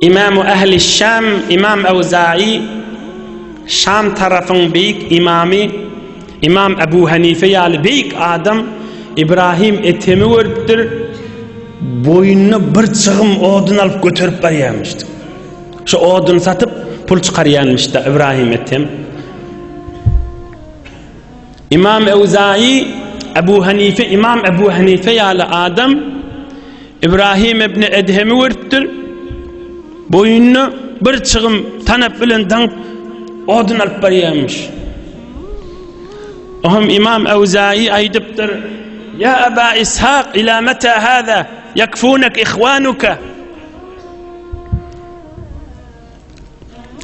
Imamy ähli Şam Imam Awzaý, Şam tarapyň beýik imamy, Imam Abu Hanife ýaly beýik adam Ibrahim Ethemi görüpdir, boýnuna bir çygym odun alyp göterip barýarmyşdy. Şu odun satyp pul çykarýarmyşda Ibrahim Ethem. Imam Ewzaýy, Ebu Hanife, Imam Ebu Hanife ýaly adam Ibrahim ibn Edhemi görüpdir. Boýuny bir çygym tanap bilen daňyp odun alyp barýarmyş. Ohm Imam Ewzaýy aýdypdyr: "Ya Aba Ishaq, ila mata hada yakfunak ihwanuka?"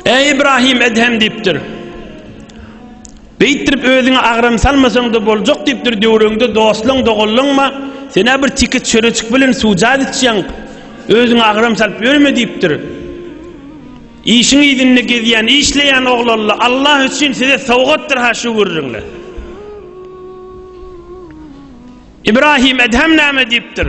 Eý Ibrahim Edhem diýipdir. Beýtdirip özüňe agram salmasaň-da boljak diýipdir, döwrüňde dostlaň, doganlaňma, sen bir tiki çöreçik bilen suwjat içýäň, özüňe agram salyp ýörme diýipdir. Işiň ýüzünde gezýän, işleýän oglanla Allah üçin size sowgatdyr ha şu gürrüňle. Ibrahim Edhem näme diýipdir?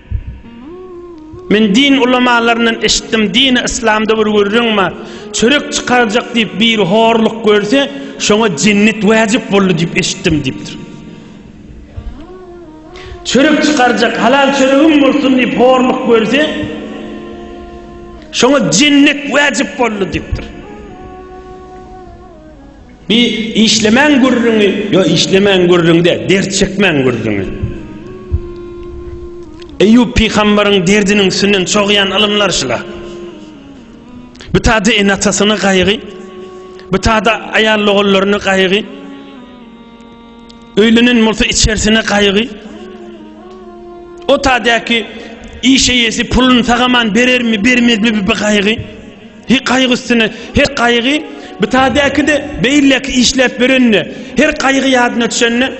Men din ulamalaryndan eşitdim, dini yslamda bir gürrüň bar, çörek çykarjak diýip biri horluk görse, şoňa jennet wajyp boldy diýip eşitdim diýipdir. Çörek çykarjak, halal çöregim bolsun diýip horluk görse, şoňa jennet wajyp boldy diýipdir. Bi işlemäň gürrüňi ýo işlemäň gürrüň däl dert çekmäň gürrüňi. Eýýup pygambaryň derdiniň üstünden çogýan ylymlar şula. Bu tada ene atasyny gaýgy, bu tada aýal ogullaryny gaýgy. Öýlenen bolsa içersine gaýgy. Otadaky iş eýesi puluny sagaman berermi, bermezmi bir gaýgy. He gaýgy üstüne, he gaýgy bitadaky de beýleki işläp berende, her gaýgy ýadyna düşende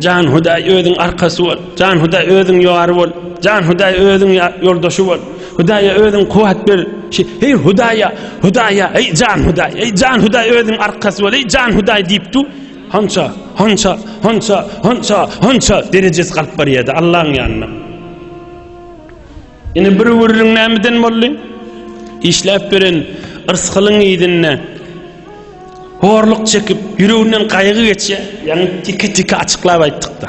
Jan Hudaý özüň arkasy bol. Jan Hudaý özüň ýary bol. Jan Hudaý özüň ýoldaşy bol. Hudaýa özüň kuwat ber. Hey Hudaýa, Hudaýa, hey Jan Hudaý, hey Jan Hudaý özüň arkasy bol, hey Jan Hudaý diýip du. Hança, hança, hança, hança, hança derejesi galyp barýardy Allaň ýanyna. Ine bir gürrüň nämeden boldy? Işläp beren yrsgylyň yzynda horluk çekip, ýüreginden gaýgy geçýär. Ýaňy tiki-tiki açyklap aýtdykda.